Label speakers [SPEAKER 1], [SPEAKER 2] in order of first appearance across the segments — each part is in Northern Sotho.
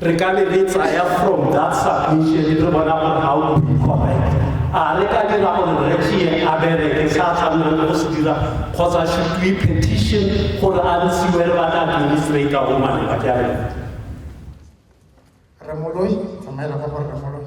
[SPEAKER 1] Re ka be re tsaya from that submission re bona gore ga o be correct. A re ka dira gore re tšee a bereke se a tshwanela le go se dira kgotsa should we petition gore a ntshiwe re batla administrator o maleba ke a leboga. Rre
[SPEAKER 2] Moloi, tsamaela kwa go Rre Moloi.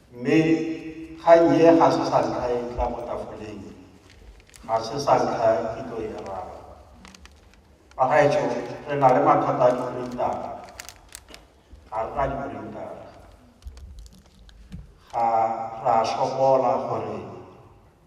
[SPEAKER 3] Mme kgang ye ga se sa ntlha e tla mo tafoleng, ga se sa ntlha ke tlo e raba. Bagaetšo, re na le mathata a diprintara, ga re na diprintara. Ga ra sokola gore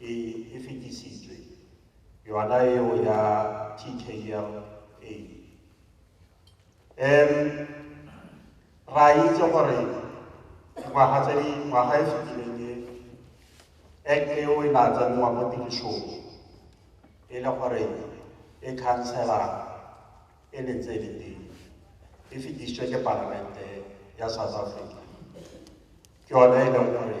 [SPEAKER 3] e e fetišitšwe, yona yeo ya TKLA. Um ra itse gore dingwaga tse di ngwaga e fetileng e act eo e na tsenngwa mo tirišong e le gore e khansela e ne tse le teng e fetišitšwe ke palamente ya south africa ke yone e leng gore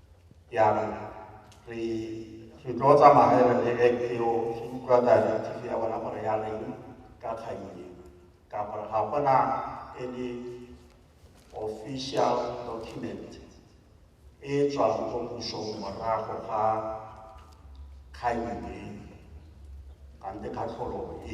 [SPEAKER 3] ya re re re tlo tsamagela le act eo re utlwa directive ya bona gore ya reng ka kgang ye ka gore ga gona e le official document e tswang go pušong morago ga kgang ye gante kgatlholo e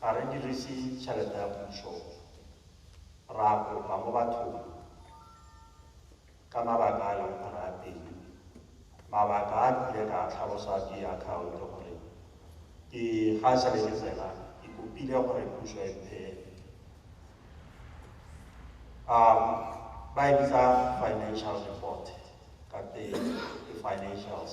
[SPEAKER 3] ga re diriše tšhelete ya pušo, re a kopa mo bathong ka mabaka a e lego gore a teng. Mabaka a kile ka tlhalosa ke akhaonto gore ke ga šale ke tsena ke kopile gore pušo e mphe um ba e bitsa financial report ka teng ke financials.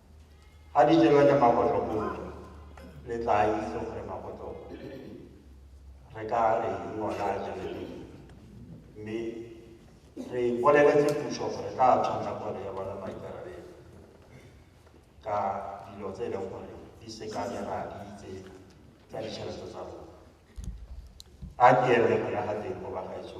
[SPEAKER 3] Ga di tšewe le magotlo kudu, le tla itse gore magotlo re ka re ngwana a tšeledi. Mme re boleletse pušo gore tla tshwanela gore ya bona maikarabelo ka dilo tse e leng gore di sekanela di itse tsa ditšhelete tsa rona. A ke eme gona ga teng go bagaetso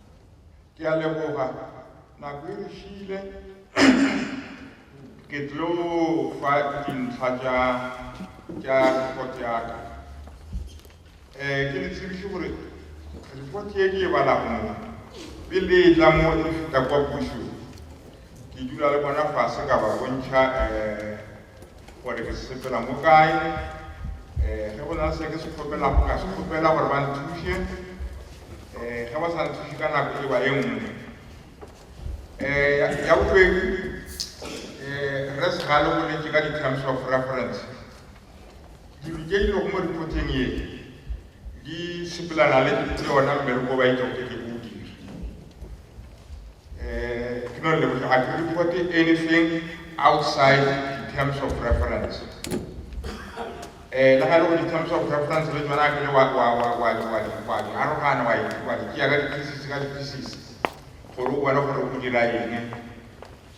[SPEAKER 4] Ke a leboga, nako e re šiile. Ke tlo fa dintlha tša tša report ya ka. Eh, ke le tsebiše gore report ye ke e balago mo pele e tla mo e feta kwa pušong ke dula le bona fase ka ba bontšha eh gore ke sepela mo kae um ge go na le se ke se kgopelago ka se kgopela gore ba nthuše um ge ba sa nthuše ka nako e ba e nngwe um ya bobedi um re segale go letse ka di-terms of reference dilo tše di lego mo reporteng ye di sepelana le yona mmereko ba itšoke ke Eh, ke no leboge ga ke report anything outside the terms of reference eh le ga le go di terms of reference le tsona ke le wa wa wa wa wa di wa di arogana wa wa di ya ka di pieces ka di pieces gore o bone gore o dira eng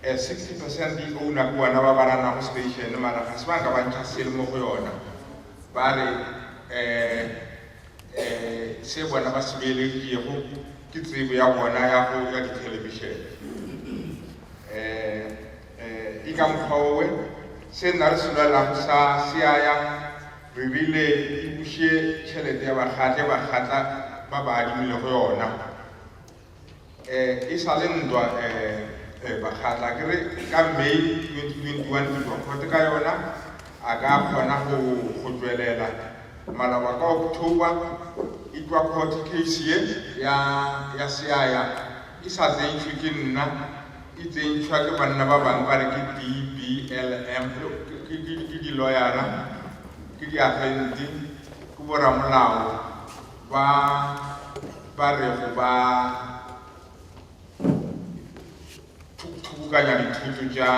[SPEAKER 4] Eh, sixty percent di owner ke bona ba ba ranago station mara ga se ba ka ba ntšha selo mo go yona. Ba re eh, eh, se bona ba se beeleditšego ke tsebo ya bona ya go ya dithelebishene. Eh, eh, e ka mokgwa owe, se nna re se lwelago sa se ya ya, re rile e buše tšhelete ya bakgatle bakgatla ba ba adimilego yona. Eh, e sa le ntwa, eh, eh, bakgatla, a ke re ka May 2021 ke tšwa khote ka yona, a ka kgona go, go tšwelela, maloba ka October, e tšwa khote case ye ya, ya Seaya, e sa tsentšhwe ke nna, e tsentšhwa ke banna ba bangwe ba re ke di-BLM, yo, ke, ke, ke, ke di-lawyer-ra, ke di-agente, ke bo-ramolao. ba ba rego ba thubukanya dithoto tša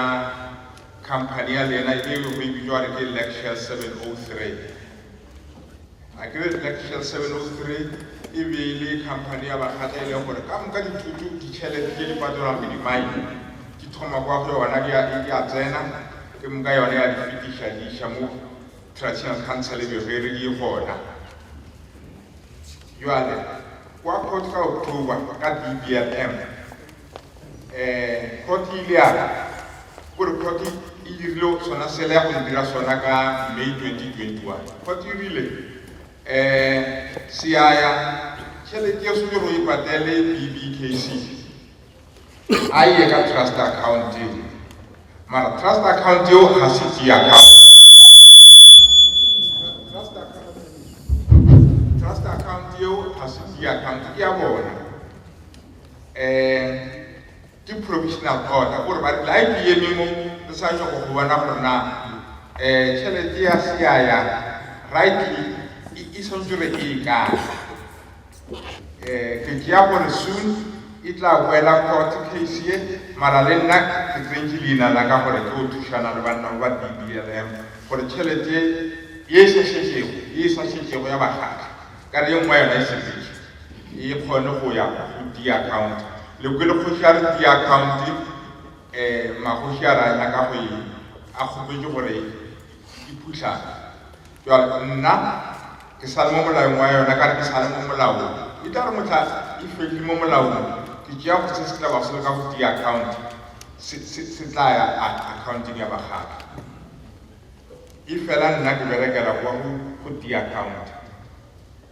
[SPEAKER 4] khamphani ya lena e go e bitšwa gore ke Lecture 703. A ke re Lecture 703 e be e le khamphani ya bakgata e leng gore ka moka dithoto ditšhelete tše di patelwang ke dimaine di thoma kwa go yona di a tsena ke moka yona ya di fetiša di iša mo Traditional Council e bego e re e gona bjale kwa court ka October ka BBLM. Court e ile ya re kore court e dirile sona sela ya go se dira sona ka May 2021. Court e rile Siyaya tšhelete yeo swantšego e patele BBKC. a ye ka trust account eo mara trust account eo ga se tšea account trust account eo ga se tšea account ke ya bona um ke provisional order gore ba la ke eme mo re sa nyoko go bona gore na um tšhelete ya seaya rightly e swantse re e kae Eh ke tšea gore soon e tla boela court case ye mara le nna ke tsentše leina la ka gore ke go thušana le banna ba ba BBLM gore tšhelete ye e sa šetšego ye e sa šetšego ya bakgatla ka re ye nngwe ya yona e sepetše e kgone go ya go di account. Le kwele kgoši a re di account eh magoši a re a nyaka go e a kgopetše gore Ke phuhlame. Bjale, nna, ke sa le mo molaong wa yona, ka re, ke sa le mo molaong. E tla re mohla e fetše mo molaong, ke tšea go se setaba seo ka go tia akhaonte, se, se, se tla ya a, akhaonteng ya bakgatla. Efela nna ke berekela go, go tia akhaonte.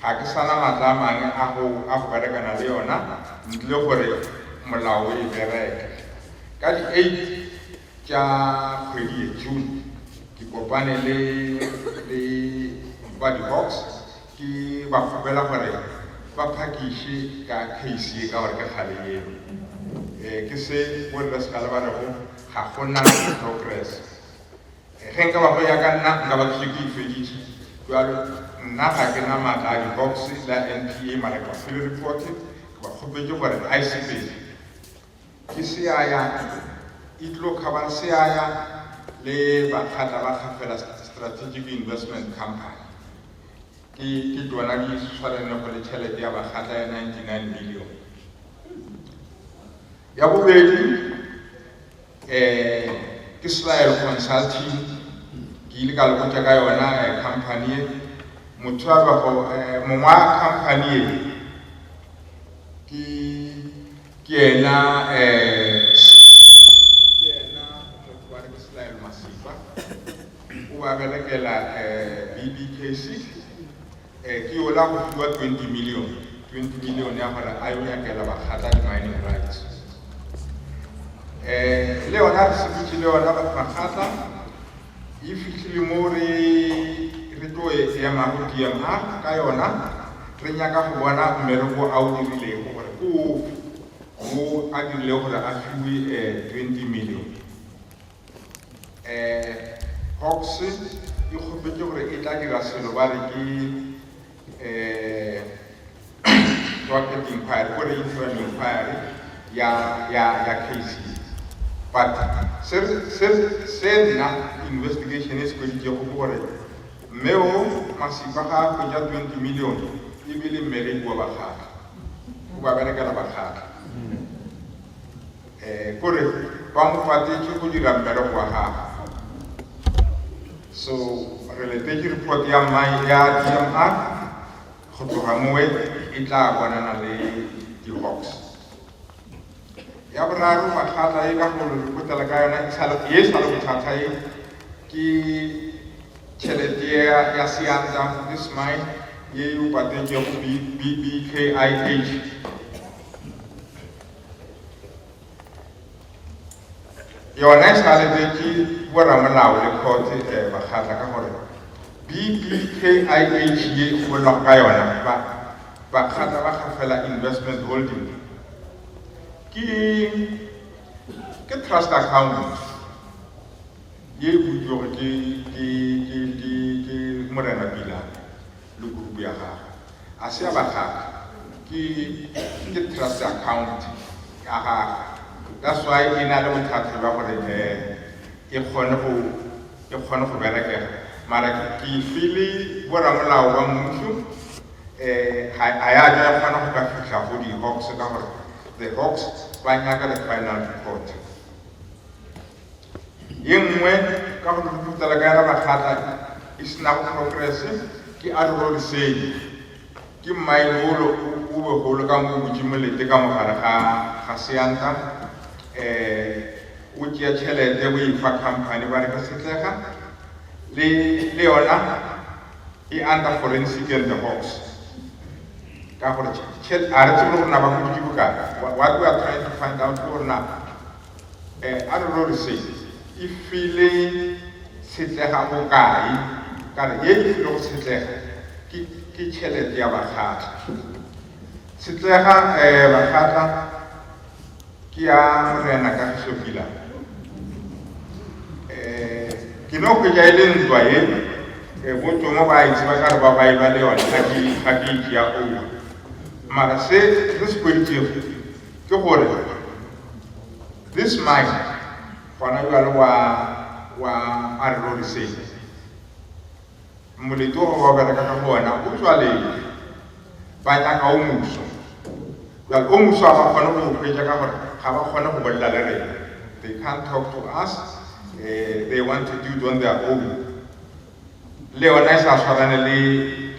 [SPEAKER 4] Ga ke sa na matla a mangwe a go a go berekana le yona ntle le gore molao o e bereke. Ka di eight tša kgwedi ye, June, ke kopane le le ba di Hawks ke ba kgopela gore ba phakiše ka case ye ka gore ke kgale yeo e ke se bo rre Sekaale ba rego ga go na progress. Ge nka ba go ya ka nna, nka ba ke šetše e feditše. Bjalo, nna ga ke na matla a dibokse la NPA, mara ke ba file repote, ke ba kgopetše gore ga e sepele. Ke seaya, e tlo khabang seaya le bakgatla ba kgafela Strategic Investment Company. Ke, ke tona di swaranego le tšhelete ya bakgatla ya 99 million. Ya bobedi, um ke Smile Consulting, ke ile ka le botša ka yona um company ye. Motho a bego um mongwa company ye ke ke yena um ke yena motho wa re ke Smile Masipa o ba berekela um BBKC. Ke yola go fiwa twenty million, twenty million ya gore a yo nyakela Bakgatla di-mining rights. Le yona re sepetše le yona batho Bakgatla, e fihlile mo re re tlo e emago DMA ka yona, re nyaka go bona mmereko a o dirilego gore ke ofe wo a dirilego gore a fiwe twenty million. eh, Hawks e kgopetše gore e tla dira selo ba re ke eh, Docket Inquiry, gore Interim Inquiry ya, ya, ya case ye. But se, se, se nna investigation e se hweditšego ke gore mme o Masipa ga a hwetša 20 million e be le mmereki wa bakgatla, o ba berekela bakgatla. Kore ba mo fatetše go dira mmereko wa gagwe. So re letetše report ya mine ya DMR go tloga mowe e tla bonana le di-hawks. Ya boraro makgata e ka go repotela ka yona ye sa le bothata ye ke tšhelete ya seanta this mine ye e o patetšego BKIH. yona e šaletše ke boramolao le khotse um eh, bakgatla ka gore BBKIH ye e bolelago ka yona ba bakgatla ba kgafela investment holding ke ke trust account ye e butšwego ke ke ke ke ke morena pila le group ya gagwe. A se ya ba gagwe, ke ke trust account ya gagwe. That's why e na le bothata bja gore eh e kgone go e kgone go berekega. Mara ke e file bo ramolao ba mmušo eh ha ha ya tla kgona go ka fihla go di Hawks ka gore the Hawks ba nyaka the final report. Ye nngwe ka go putala ka yena makgata e se nago progrese ke a Ruro Lesedi. Ke mmaene wolo o begolo ka mo o butše molete ka mogare ga ga seanta, um o tšea tšhelete o e fa company ba re ke Setlega, le le yona e under forensic and the hawks. Ka gore a re tsebe gore na ba huditše bokae, what we are trying to find out ke gore na Eh, a re rorisheng, e file tshetlega bokae? Ka re, Ye e file go tshetlega ke, ke tšhelete ya bakgatla. Tshetlega, eh, bakgatla, ke ya Morena Kagišo Pila. Eh, ke no hwetša e le ntwa ye, eh, bo Tomo ba e tseba ka re ba ba e ba le yona, ga ke, ga ke e tšea owa. Mara se re se hweditšego, ke gore this man gona bjale wa wa a re roriseng molete wa ba bereka ka go wena o tswalele ba nyaka o muso bjale o muso a ba kgone go hwetša ka gore ga ba kgone go bolela le rena they can't talk to us uh, they want to do it on their own le yona e tla swarane le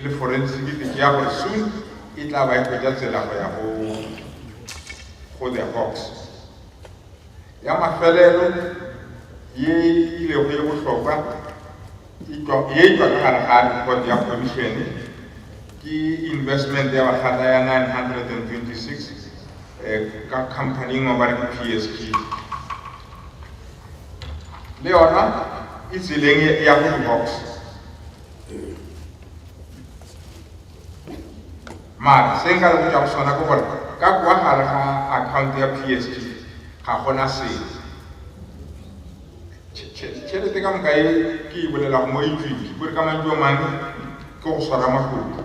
[SPEAKER 4] le forensic ke tšea gore soon e tla ba e hwetša tsela go ya go go the hawks ya mafelelo ye ilego ye bohlokwa ye tšwa ka gare ga report ya commission ke investment ya bakgata ya 926 eh, ka company engwe ba re ke psg le yona e tseleng ya go divorce mara se nka le go tšwa go sona ke gore ka kwa gare ga account ya psg ga gona selo tšhelete ka moka e ke e bolelago mo etswitse kore ka mantšu a mangwe ke go swara makuku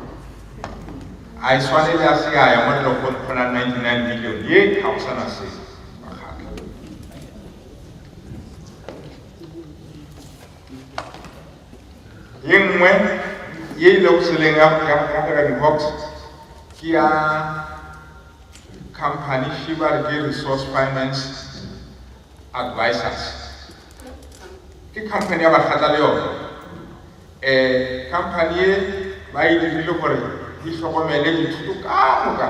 [SPEAKER 4] a e swanele a se a ya mo le go kgona 99 million ye ga go sana selo ye nngwe ye e lego seleng ya African Hawks ke ya company Shibari ke Resource Finance Advisors ke company ya bakgatla le yone um company ye ba e dirile gore di hlokomele dithuto ka moka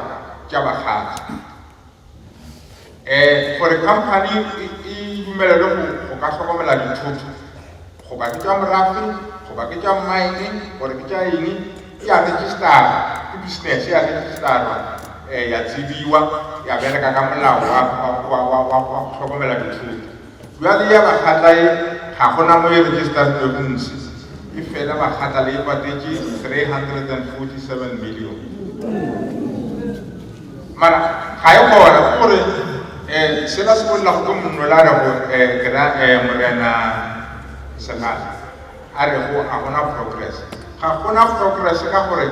[SPEAKER 4] tša bakgatla um gore khamphani e dumelelwe go ka hlokomela dithoto goba ke tša morafe goba ke tša mmaene gore ke tša eng e a registerwa ke business ya registerwa um ya tsebiwa ya bereka ka molao wa go hlokomela dithoto. Bjale ya bakgatla ye ga go na mo e registerilwego mose, e fela bakgatla le e patetše 347 million. Mara ga e gona ke gore um sela se bolelago ke monnola a rego um ke ra um morena Segala a rego ga gona progress. Ga gona progress ka gore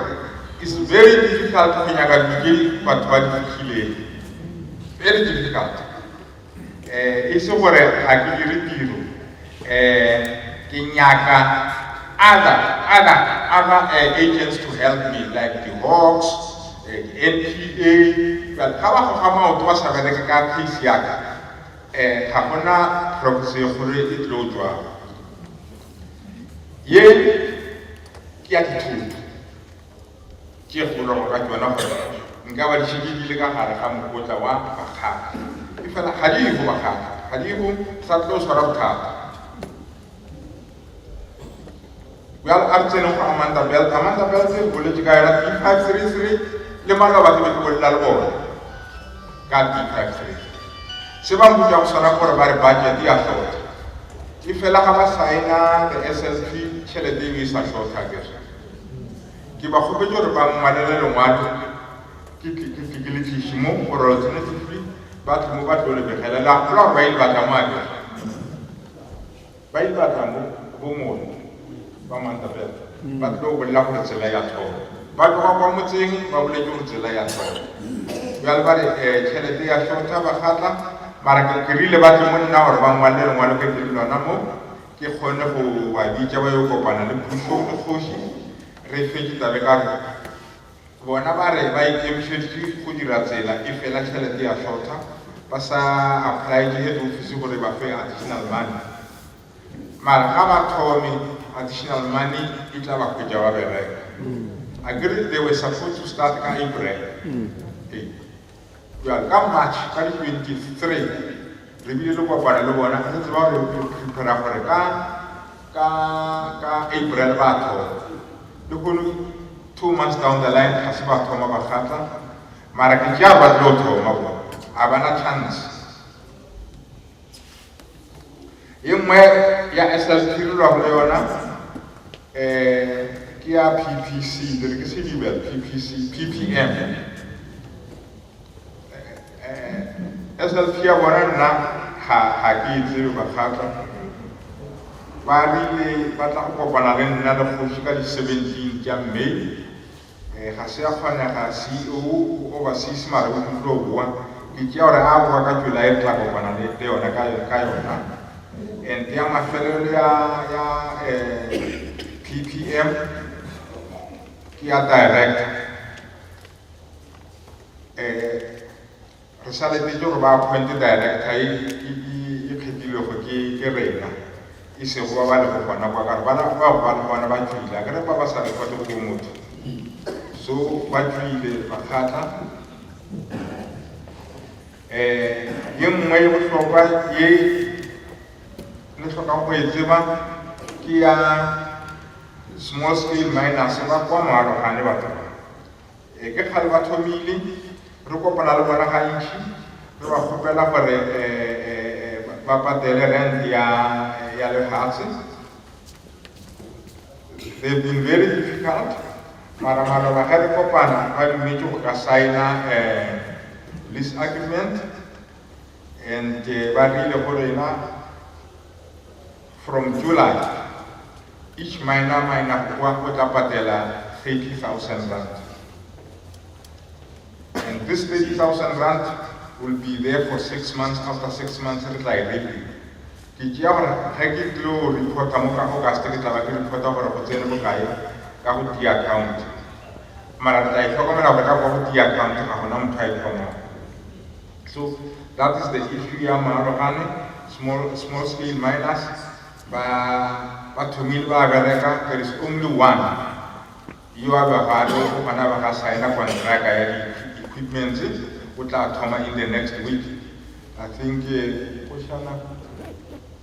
[SPEAKER 4] is very difficult go nyaka dilo tše batho ba di fihlilego, very difficult. Eh, e se gore ga ke dire tiro. Eh, ke nyaka other, other, other uh, agents to help me, like the Hawks, uh, eh, the NPA. Jale, ga ba goga maoto ba sa bereke ka case yaka, eh, ga gona progress e kgolo e tlo jwang. Ye, ke ya dithoto. Ke kgolwa go ka tšona gore nka ba di šetše di le ka gare ga mokotla wa bakgatla. Efela ga di go bakgatla, ga di go sa tlo swara bothata. Bjale a re tsene go Amanda Belt. Amanda Belt e boletše ka yona D533 le maloba ke be ke bolela le bona ka D533. Se ba mputša go swana gore ba re budget ya hlotha. Efela ga ba saena the SLP tšhelete e be e sa hlotha ke Ke ba kgopetše gore ba nngwalele lengwalo ke tle ke tle ke le tliše mo gore lo tsene sefli ba tle mo ba tlo le begela. Le a gopola gore ba ile ba tla mo a bega? Ba ile ba tla mo bo mone ba Mantabela ba tlo bolela gore tsela ya thoma. Ba tloga kwa motseng ba boletše gore tsela ya thoma. Bjale ba re um tšhelete ya shorta ba kgatla mara ke rile ba tle mo nna gore ba ngwalele lengwalo ke tle le lona mo Ke kgone go ba bitša ba yo kopana le pušo le kgoši, re fetše taba e ka re, Bona ba re ba ikemišeditše go dira tsela efela tšhelete ya šotha, ba sa apolaetše head office gore e ba fe additional money. Mara ga ba thome, additional money e tla ba hwetša ba bereka. Akere they were supposed to start ka April. Hei, Bjale ka March ka di 23 re bile le kopano le bona, re tseba gore re prepare gore ka ka ka April ba thoma le kono two months down the line ga se ba thoma ba kgatla mara ke tšea ba tlo thoma bona a bana chance Ye nngwe ya SLT re lwago le yona um ke ya PPC, ke re ke sedibel PPC, PPM. Eh, SLP ya bona nna ga ga ke e tsebe bakgatla ba rile ba tla go kopana le nna le kgoši ka di 17 tša May Ee, ga se a kgonega, CEO, go Overseas mare o tlotlo boa. Ke tšea gore a boa ka July re tla kopana le, le yona ka, ka yona. Ente ya mafelelo ya, ya, eh, PPM ke ya Director. Eh. Re sa letetše gore ba appointe director ye e kgethilwego ke rena, e sego ba ba lego gona kwa, ka re bana bao ba le gona ba tšwile, a ke re ba ba sa reportego bo motho, so ba tšwile ba kgatla. Um ye nngwe ye bohlokwa ye le hlokago go e tseba ke ya small scale miners ba kwa moalogane batho ba Ee, ke kgale ba thomile, re kopana le bona gantši, re ba kgopela gore ba patele rent ya, ya lefase. They've been very difficult, mara maloba ge re kopana ba dumetše go ka signa lease agreement and ba rile go rena, From July, each miner miner kwa o tla patela 30,000 rand. And this 30,000 rand will be there for six months, after six months re tla e reaping. Ke tšea gore ge ke tlo reporta mo ka August ke tla ba ke reporta gore go tsene bokae ka go tea account. Mara re tla e hlokomela gore ka kwa go tea account ga gona motho a e kgomago. So that is the issue ya Maarogane, small, small scale miners, ba, ba thomile ba bereka, there is only one yo a bego a tlo gona ba ga signa kontraka ya di-equipments, o tla thoma in the next week, I think, eh, Koshana,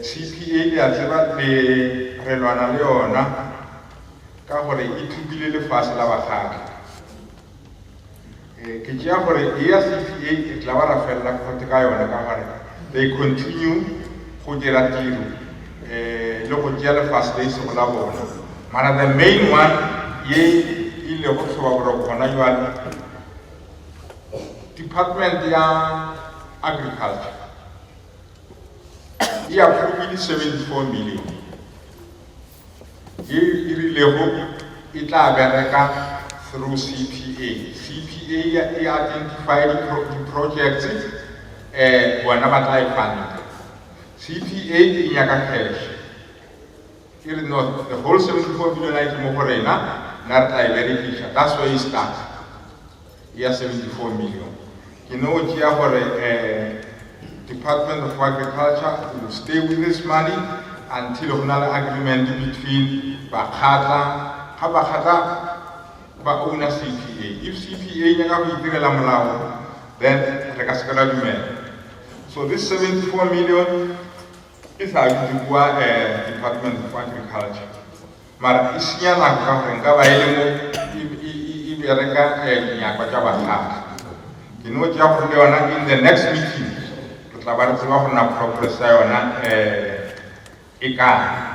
[SPEAKER 4] Tshipi e le a tseba le re lwana le yona ka gore e thubile lefase la bakgadi. Ke tšea gore e ya Tshipi e re tla ba ra felela kgote ka yona ka gore they continue go dira tiro le go tšea lefase le e sego la bona. Mara the main one ye e le go tlhoba boroko gona jwale department ya agriculture. e aprovile 74 million ye e rilego e tla bereka through cpa cpa e identify di-projects um bona ba tla e fanda cpa e nyaka cash e re no the whole 74 million a e ke mo go rena nna re tla e berekiša that's where e start ya 74 million. Ke no tšea gore um Department of Agriculture will stay with this money until go na le agreement between bakgatla, ga bakgatla ba owner CPA. If CPA e nyaka go itirela molago, then re ka se ke ra dumela. So this 74 million e sa dutše kua um Department of Agriculture. mara e senya nako ka gore nka ba e le mo e, e, e, e bereka eh, dinyakwa tša bahlahli ke no tšea kgolo yona in the next meeting re tla ba re tseba gore na progress ya yona eh, e kae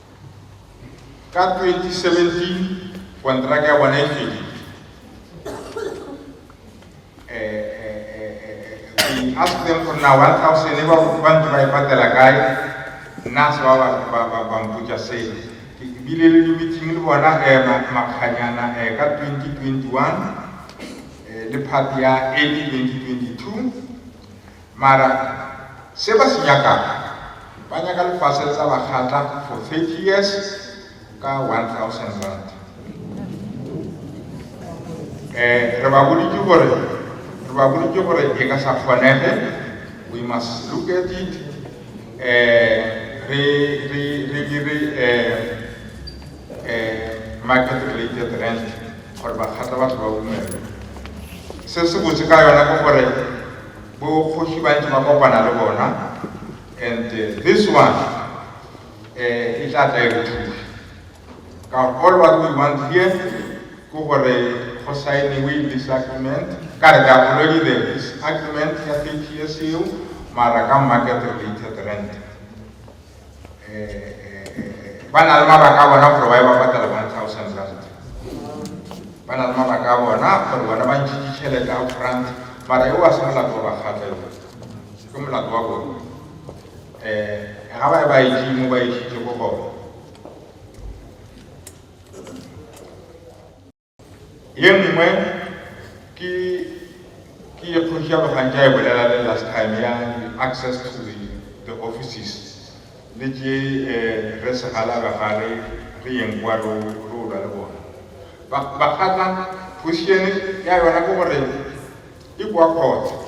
[SPEAKER 4] Ka 2017 kontraka ya bona e fedile. We ask them gore na 1000 e ba ba ntse ba e patela kae nna se ba ba mpotsa seo ke bile le di-meeting le bona um makganyana um ka 2021 um le part ya early 2022 Mara se ba se nyakago, ba nyaka lefase le tla ba kgatla for 30 years ka 1000 rand. Eh, re ba boditše gore re ba boditše gore e ka sa kgonege, we must look at it. Eh, re re re dire eh eh market related rent gore ba kgatla batho ba bumele. Se se botse ka yona ke gore bo kgoši ba ntši ba kopana le bona and this one eh e tla tla e re thuša ka all what we want here ke gore go signiwe this agreement ka re ka already there is agreement ya 30 years eo mara ka market related rent ba na le mabaka a bona gore ba e ba patala one thousand rand ba na le mabaka a bona gore bona ba ntšhitše tšhelete a front mara yo wa se molato wa bakgatla yo ke molato wa bona um ga ba e ba etšee mo ba etšhitšego gona Ye nngwe ke ke ye Kgoši ya Logantša e bolela le last time ya access to the, the offices le tše eh, re segalaga ga re re yeng kwa re re olwa le bona ba ba kgatla position ya yona ke gore e kwa khotsa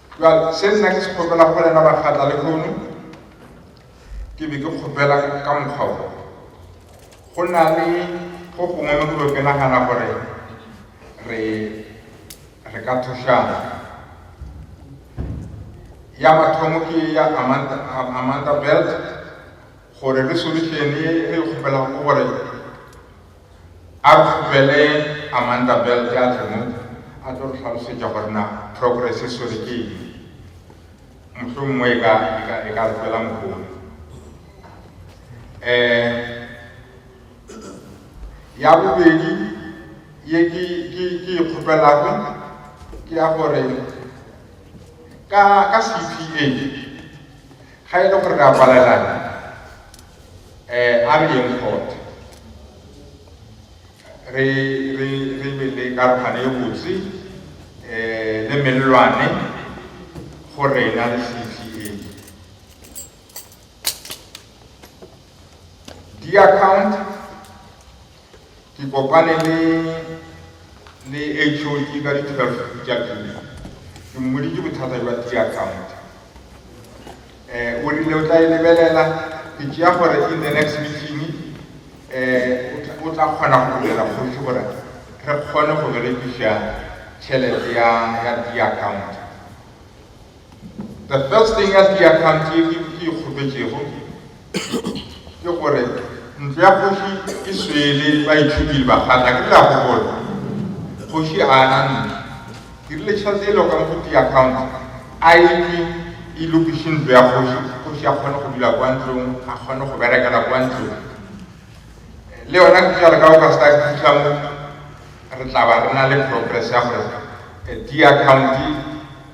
[SPEAKER 4] Jwale se nna ke se kgopela go lena bakgatla le kgono ke be ke kgopela ka mokgwa o go na le go gongwe mo dilo ke nagana gore re re ka thušana ya mathomo ke ya amanda, amanda belt gore resolution e re kgopela go gore A re tlogele Amanda Belt a tle mo a tlo re hlalosetša gore na Progress e swere ke eng. Mohlomongwe e ka, e ka, e ka re tswela mohola. Um, ya bobedi ye ke, ke, ke e kgopelago ke ya gore ka, ka CPA Ga e le gore re a kwalelana, eh, a re yeng kgotha re, re, re be le karogano e botse eh, le mellwane go rena le CTA. Di-account Ke kopane le le HOD ka di 12 tša pele. Ke mmoditše bothata bja T account. Eh, o rile o tla e lebelela. Ke tšea gore in the next meeting eh, o tla kgona go bolela kgoši gore re kgone go berekiša tšhelete ya ya T account. The first thing ya Seakhang ke e kgopetšego ke gore ntlo ya kgoši e swele baitšhupili ba kgale, a ke le a gopola? Kgoši a ana ntlo, ke rile tšhelete e loka mohuti ya account a e tšwe e lokiše ntlo ya kgoši, kgoši a kgone go dula kwa ntlong, a kgone go berekela kwa ntlong. Le yona ke jalo ka o ka sa fitlha mo re tla ba re na le progress ya gore eh, di account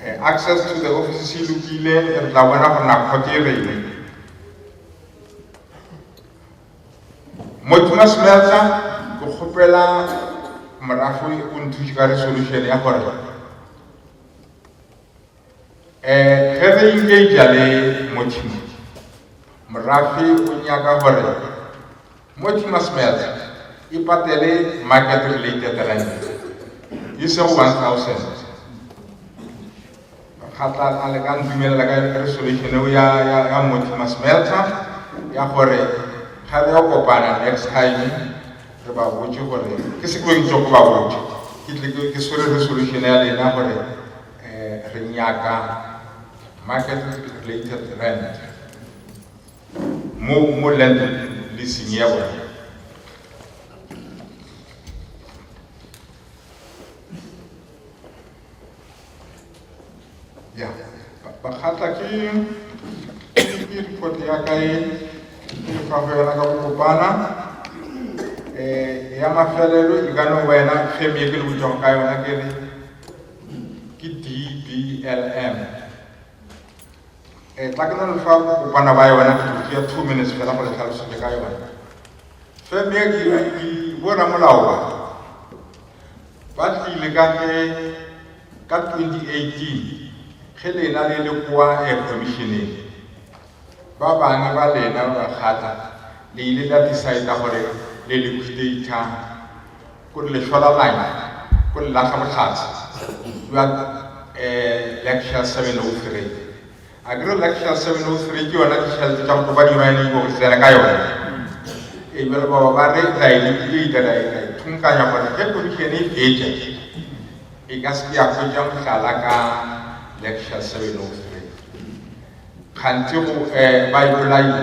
[SPEAKER 4] Eh, access to the office e lokile e re tla bona gore na kgote e reng motima smelta ke kgopela morafe o nthuše ka resolution ya gore um eh, ge re engage le motima morafe o nyaka gore Mortimer Smelt e patele market related rent e sego 1000 kgatla a le ka ntumelela ka resolution eo ya ya ya Mortimer Smelter ya gore ga re ya kopana next time re ba botse gore ke se ke ntse go ba botse ke tle ke ke swere resolution ya lena gore eh re nyaka market related rent mo mo lento le senyego. Ya, bakgatla ke ke report ya ka e ke fa go yona ka go kopana eh ya mafelelo e ka no wena ge me ke le botšago ka yona ke re ke DBLM Eh, bakeno le fa kopana ba yona ke tlo tšea two minutes fela go le tlhalosetse ka yona feme ya dirandi bo ramolao ba ba tlile ka ge ka 2018 ge lena le le kwa air eh, commissioneng ba bangwe ba lena ba kgatla le ile la decide gore le liquidator Go le hlola lanya, go le laga bohlatse, Stuart um Lecture 703. A ke re Lecture 703 ke yona di-shelf tša go topa dino ya ne ibo tsena ka yona. E bjale baba ba re ra e liquidata ra e ra e thunkanya gore ge komišene e fetša e ka se ke ya hwetša mohlala ka Lecture 703. Kganthe go um ba e bolaile.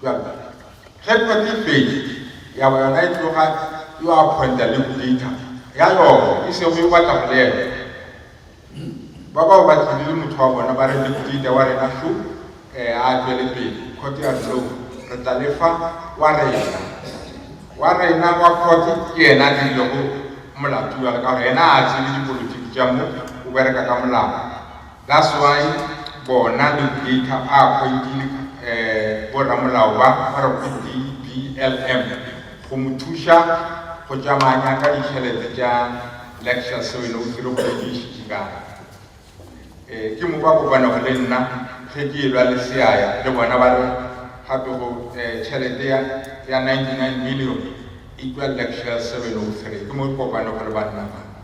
[SPEAKER 4] Bjale, ge kgwedi e fetše, ya ba yona e tloga e yo appointa le Bolita ya yona, e sego yo batla go le ena. Ba bao ba tlile le motho wa bona, ba re, Le Bolita wa rena šo, ee, a tšwele pele. Khote ya re, No, re tla le fa wa rena. Wa rena wa khote ke yena a dirilego molato bjale, ka gore yena a a tsebe dipolotiki tša mo, o bereka ka molao. That's why bona dictator ba appointile bo ramolao ba ba re go DBLM go mo thuša go tšamanya ka ditšhelete tša lecture se wena o tsere go di išitše kae. Ke mo ba kopanago le nna ge ke elwa le seaya le bona ba re gape go tšhelete ya 99 million e tšwa lecture se wena o tsere ke mo kopanago le banna ba.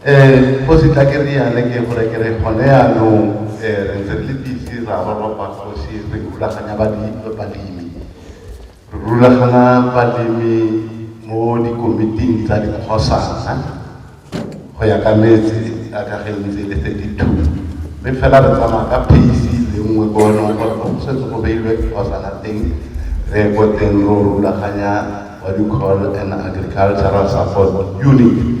[SPEAKER 5] Ee, Kgoši, tla ke reale ke gore ke re gone yanong re ntse re le busy ra roropa Kgoši re rulaganya balemi. Re rulagana balemi mo dikomiting tsa dikgosana go ya ka metse ka ge e ntse e le 32 mme fela re tsamaya ka pace le nngwe ko e leng gore mo go setse go beilwe dikgosana teng re ye ko teng ro rulaganya what you call an agricultural support unit.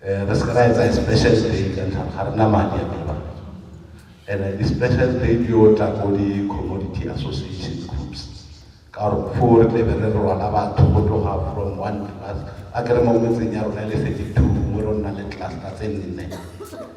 [SPEAKER 5] Re se ke ra etsa special day ka ntlha ga re na madi a meebake. And-e di special day di yo tla ko di commodity association groups, ka gore foo re tle be re rwala batho go tloga from one class. Akere mo metseng ya rona e le thirty two gongwe ro nna le cluster tse nne.